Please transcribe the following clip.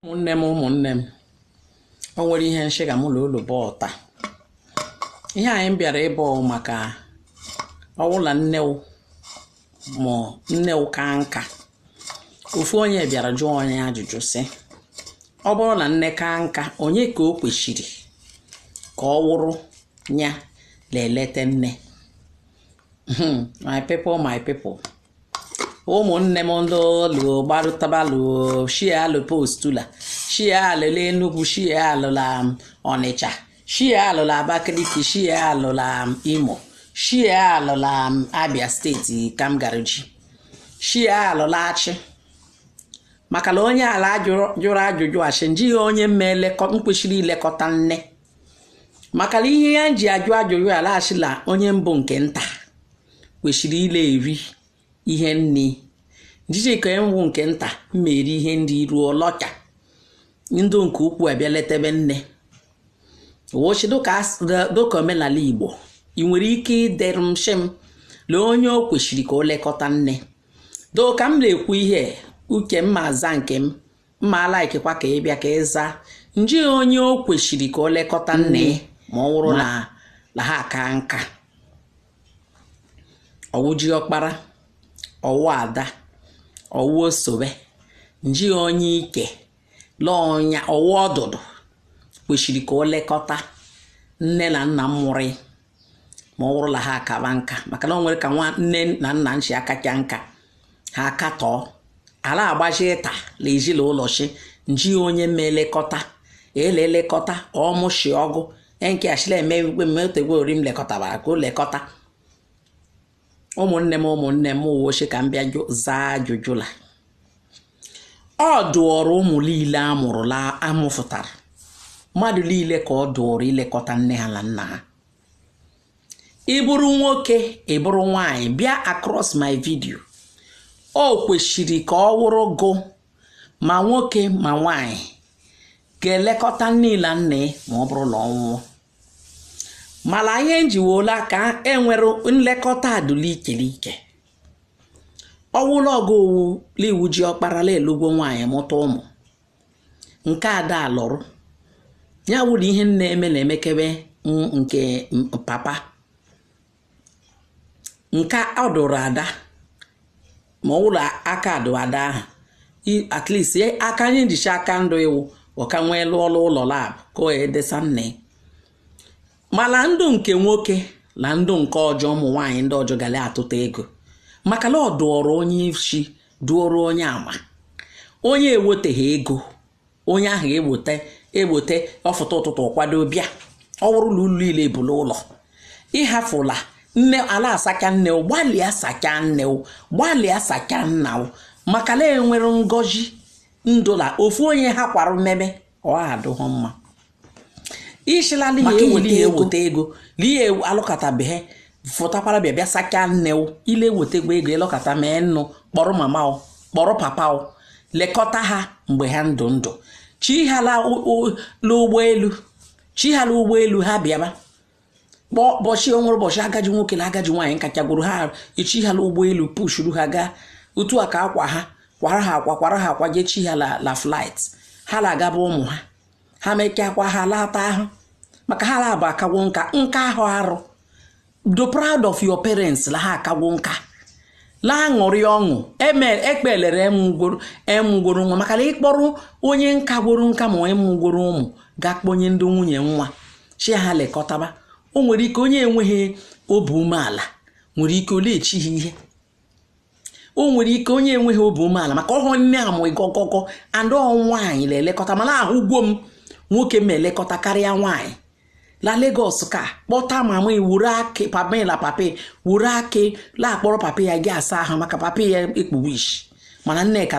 ụmụnne m ụmụnne m o nwere ihe m shị ka mụ na olu bọọ taa ihe anyị bịara ịbọ maka ọwụla nne ma nne ka nka ofu onye bịara jụọ onye ajụjụ sị ọ bụrụ na nne ka nka onye ka o kwesịrị ka ọ wụrụ ya na-eleta nne hmm, my people my people ụmụnne m ndị olu gbarụtabalụ share alụ post ụla share alụ la Enugu share alụ la um, Ọnịcha share alụ la Abakaliki share alụ la um, Imo share alụ la um, Abia steeti ka m gara ji share alụ la Achị maka na onye ala jụrụ ajụjụ ashị nji onye m kwesịrị ilekọta nne maka na ihe ya ji ajụ ajụjụ ya la ashị la onye bụ nke nta kwesịrị ịla eri ihe nne nji ka enwu nke nta ma eri ihe nne rilọcha ndị nke ukwu abịa letebe nne wọ shị dịka omenala igbo ị nwere ike iderụ m shị m lee onye o kwesịrị ka o lekọta nne doo ka m na-ekwu ihe uche m ma aza nke m mma alaikekwa ka ị bịa ka ị zaa nji onye o kwesịrị ka o lekọta nne ya mm. ma ọ wụrụ la ha akaa nka ọ wụ ji ọkpara ọ wụ ada ọ wụ osobe nji onye ike lọọnya ọ wụ ọdụdụ kwesịrị ka o lekọta nne na nna mụrụ ma ọ bụrụ la ha akaba nka maka na o nwere ka nwa nne na nna shi akacha nka ha akatọọ ala agbaji ịta na ezi la ụlọ shị nji onye ma elekọta la-elekọta ọ mụ shị ọ gụ e nke a shị la eme igwe mmetegwe ori m lekọtabara ka o lekọta ụmụnne m ụmụnne m mụwa shị ka m bịa zaa ajụjụ la ọ dụọrọ ụmụ niile a mụrụ la a mụfụtara mmadụ niile ka ọ dụọrọ ilekọta nne ha na nna ha ị bụrụ nwoke ị bụrụ nwaanyị bịa across my video o kwesịrị ka ọ wụrụ gụ ma nwoke ma nwaanyị ga-elekọta nne na nna ma ọ bụrụ na ọ nwụọ mala ihe njiwola ka e nwere nlekọta dụ l'ike l'ike ọ wụ la ọgụ owu liwu ji ọkpara la alụgwo nwaanyị mụta ụmụ nke ada alụrụ ya wụrụ ihe nna eme na-emekebe m nke m- papa nke a dụrụ ada ma ọ wụrụ aka dụ ada ahụ at least aka anyị njicha aka ndụ iwu ọka nwee lụọ ọrụ ụlọ lab ka o edesa nne mana ndụ nke nwoke na ndụ nke ọjọ ụmụ nwaanyị ndị ọjọ ga la atụta ego maka na ọ dụọrọ onye isi dụọrọ onye ama onye eweteghị ego onye ahụ egbote egbote ọ fụta ụtụtụ ọ kwado bịa ọ wụrụ la ụlọ niile bụ n'ụlọ ị hafụla nne a la-asacha nne o gbalịa sachaa nne o gbalịa sachaa nna o maka la e nwere ngozi ndụla ofu onye ha kwara mmeme ọ adụghụ mma ishila n'ihi Maka eweli inweta ya ego. eweta ego na ihe alụkọtabeghị fụtakwara bịa bịa sachaa nne o ile ewetekwa ego ilekọta mee nnụ kpọrọ mama o kpọrọ papa o lekọta ha mgbe ha ndụ ndụ chi ha la ụ- ụ- la ụgbọelu chi ha la ụgbọelu ha bịaba kpọọ ụbọchị onwere ụbọchị agaji nwoke na agaji nwaanyị nkachagwuru ha e chi ha la ụgbọelu pushuru ha gaa otu a ka akwa ha kwara ha akwa kwara ha akwa jee chi ha la la flight ha la agaba ụmụ ha ha mekakwa ha lata ahụ maka ha labụ akagwo nka nka ahụ arụ do proud of your parents la ha akagwo nka la-aṅụrị ọṅụ ekpelere e mụgworo nwa maka la ị kpọrọ onye kagworo nka ma onye mụgworo ụmụ ga-akpọnye ndị nwunye nwa chi ha lekọtaba o nwere ike onye enweghị obi umeala nwere ike o lechi ha ihe o nwere ike onye enweghị obi umeala maka ọhụrụ nne a mụ ịgọgọgọ ndị nwaanyị la-elekọta mala ahụgwo m nwoke m elekọta karịa nwaanyị la Lagos ka kpọta mama wuru akị papa la papa wuru akị la-akpọrọ papa ya ja-asa ahụ maka papa ya ekpuwo ishi mana nneka